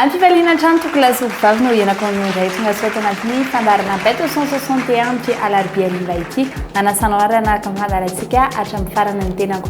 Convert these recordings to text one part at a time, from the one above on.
Ampifaliana hatrany toko lasoko vavy no hianako amin'ny indray tonga soa tao anatin'ny fandaharana Beto 161 amin'ity alarobia hariva ity. Manasana anarana ka mandala antsika hatramin'ny farany ny tenako.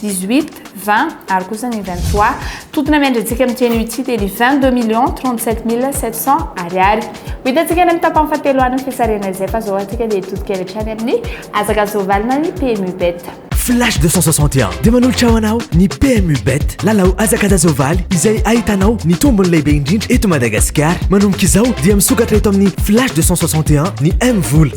18, 20 ary kosa ny 23. Totona miandry-antsika amin'ity anio ity dia ny 22 millions 37 mille 700 ariary. Ho hitantsika any amin'ny tapany fahatelo any ny fisarihana izay fa izao antsika dia hitodika avy hatrany amin'ny hazaka soavalina ny PMU Bet. Flash 261 dia manolotra ho anao ny PMU Bet, lalao hazakazaka soavaly izay ahitanao ny tombony lehibe indrindra eto Madagasikara. Manomboka izao dia misokatra eto amin'ny Flash 261 ny M-vola.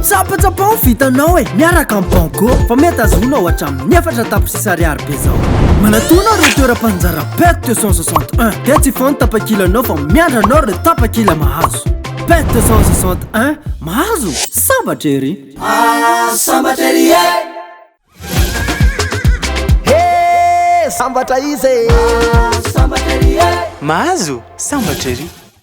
Tsapatsapa ho vitanao e, miaraka amin'ny Banco fa mety azonao hatramin'ny efatra tapitrisa ariary be zao. Manatona ireo toeram-panjara PET 261 dia tsy fony tapakilanao fa miandry anao ireo tapakila mahazo. PET 261, mahazo? Sambatra ery! Ah, sambatra ery e! Hee, sambatra iza e! Ah, sambatra ery e! Mahazo? Sambatra ery!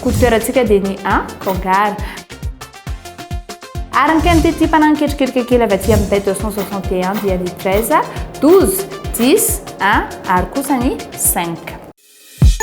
Kodiperantsika dia ny a Kangara. Araka ny tetimpana niketriketrika kely avy aty amin'ny tête 261 dia ny 13, 12, 10, 1 ary kosa ny 5.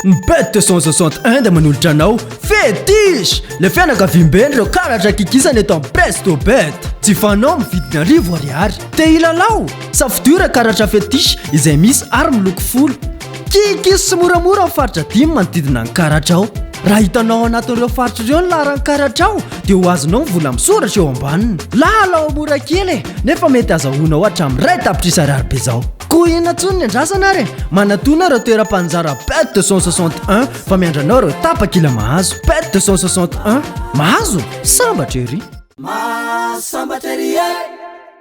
Ny bête 261 dia manolotra anao Fétiche! Le fianakaviamben'ny ireo karatra kikisana eto amin'ny Presto Bet. Tsy fanao amin'ny vidiny arivo ariary. Te hilalao? Safidio ireo karatra Fétiche izay misy ary miloko folo. Kikis sy moramora ao faritra dimy manodidina an'i Karadrao. Raha hitanao ao anatin'ireo faritra ireo ny laharan'i Karadrao dia ho azonao ny vola misoratra eo ambaniny. Lalao mora kely e, nefa mety azahoanao hatramin'ny iray tapitrisa ariary bezao. Koa inona intsony ny andrasana ary e! Manatòna ireo toeram-panjara Bête 261 fa miandry anao ireo tapakila mahazo. Bête 261, mahazo? Sambatra ery! Mahasambatra ery e!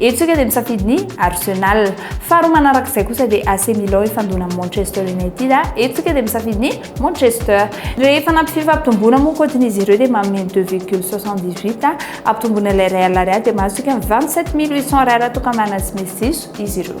Eto isika dia misafidy ny Arsenal. Faharoa manaraka izay kosa dia AC Milan hifandona amin'ny Manchester United. Eto isika dia misafidy ny Manchester. Rehefa nampy fifampitomboana moa kaontiny izy ireo dia manome ny deux virgule soixante-dix-huit ampitomboina ilay iray alina ariary dia mahazo isika ny vingt-sept mille huit cents ariary atokanana tsy misy diso izy ireo.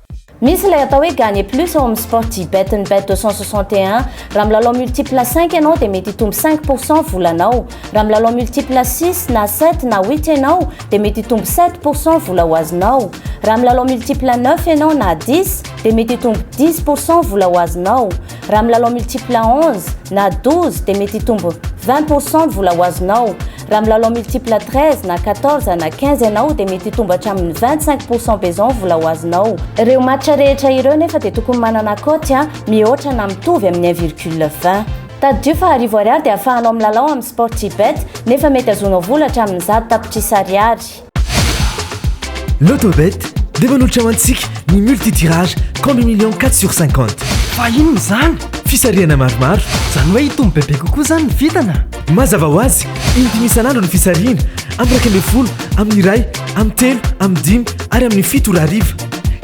Misy ilay atao hoe gagner plus ao amin'ny Sportybet ny bet 261. Raha milalao multiple cinq ianao dia mety hitombo cinq pour cent volanao. Raha milalao multiple six na sept na huit ianao dia mety hitombo sept pour cent vola ho azonao. Raha milalao multiple neuf ianao na dix dia mety hitombo dix pour cent vola ho azonao. Raha milalao multiple onze na douze dia mety hitombo vingt pour cent vola ho azonao. Raha milalao multiple 13 na 14 na 15 ianao dia mety hitombo hatramin'ny 25 pourcent be izao ny vola ho azonao. Ireo match rehetra ireo nefa dia tokony manana cote mihoatra na mitovy amin'ny 1 virgule 20. Tadidio fa arivo ariary dia afahanao milalao amin'ny Sportybet nefa mety azonao vola hatramin'ny zato tapitrisa ariary. Lotobet dia manolotra ho antsika ny multi-tirage compte million 4 sur 50. Fa inona izany? Fisarihana maromaro. Izany hoe hitombo bebe kokoa izany ny vintana? Mazava ho azy, in-dimy isan'andro ny fisarihana, amin'ny iraika ambin'ny folo, amin'ny iray, amin'ny telo, amin'ny dimy ary amin'ny fito ora hariva.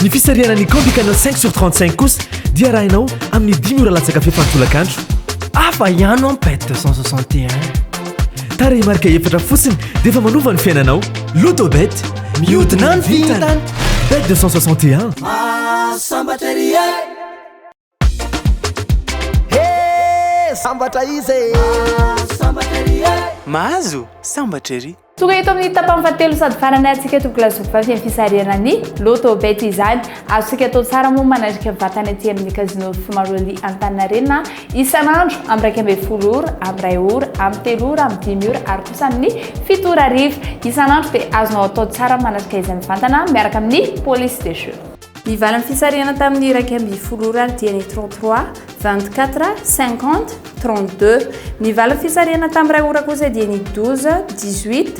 Ny fisarihana ny compte canal 5 sur 35 kosa dia arahinao amin'ny dimy ora latsaka fefany tolakandro. Hafa ihany ho'a ny bet 261. Tarehimarika efatra fotsiny dia efa manova ny fiainanao. Lotobet, mihodina ny vintana. Bet 261. Mahasambatra ery e. He, sambatra izy e. Mahasambatra ery e. Mahazo sambatra ery. Tonga eto amin'ny tapany fahatelo sady farany antsika Tokla Zovavy amin'ny fisarihana ny Lotto Bet izany. Azontsika atao tsara moa manarika vatana ety amin'ny Casino Fimaroli Antaninarenina. Isan'andro, amin'ny iraika ambin'ny folo ora, amin'ny iray ora, amin'ny telo ora, amin'ny dimy ora ary kosa amin'ny fito ora hariva. Isan'andro dia azonao atao tsara ny manatrika izay mivantana miaraka amin'ny police des jeux. Ny valin'ny fisarihana tamin'ny iraika ambin'ny folo ora ary dia ny trente trois, vingt quatre, cinquante, trente deux. Ny valin'ny fisarihana tamin'ny iray ora kosa dia ny douze, dix huit,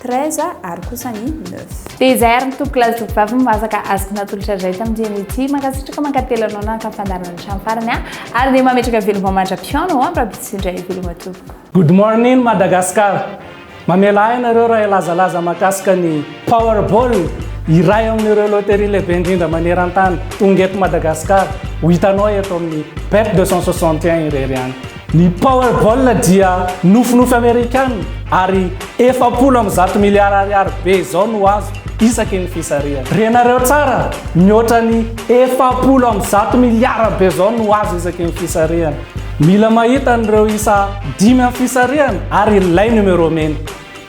treize ary kosa ny neuf. Dia izay ary ny tompoko laza tovovavy no mahazaka azy natolotra indray tamin'ity anio ity. Mankasitraka mankatelina anao nanka ny fandaharana hatramin'ny farany a! Ary dia mametraka veloma mandra-pihaona ho amin'ny Rabe sy indray veloma tompoko. Good morning Madagascar! Mamela ahy ianareo raha hilazalaza mahakasika ny Powerball, iray amin'ireo loterie lehibe indrindra maneran-tany, tonga eto Madagasikara, ho hitanao eto amin'ny Bet deux cent soixante et un irery ihany. Ny Powerball dia nofinofy Amerikana ary efapolo amby zato miliara ariary be izao no azo isaky ny fisarihana. Renareo tsara, mihoatra ny efapolo amby zato miliara be izao no azo isaky ny fisarihana. Mila mahita an'ireo isa dimy amin'ny fisarihana ary ilay numéro mena.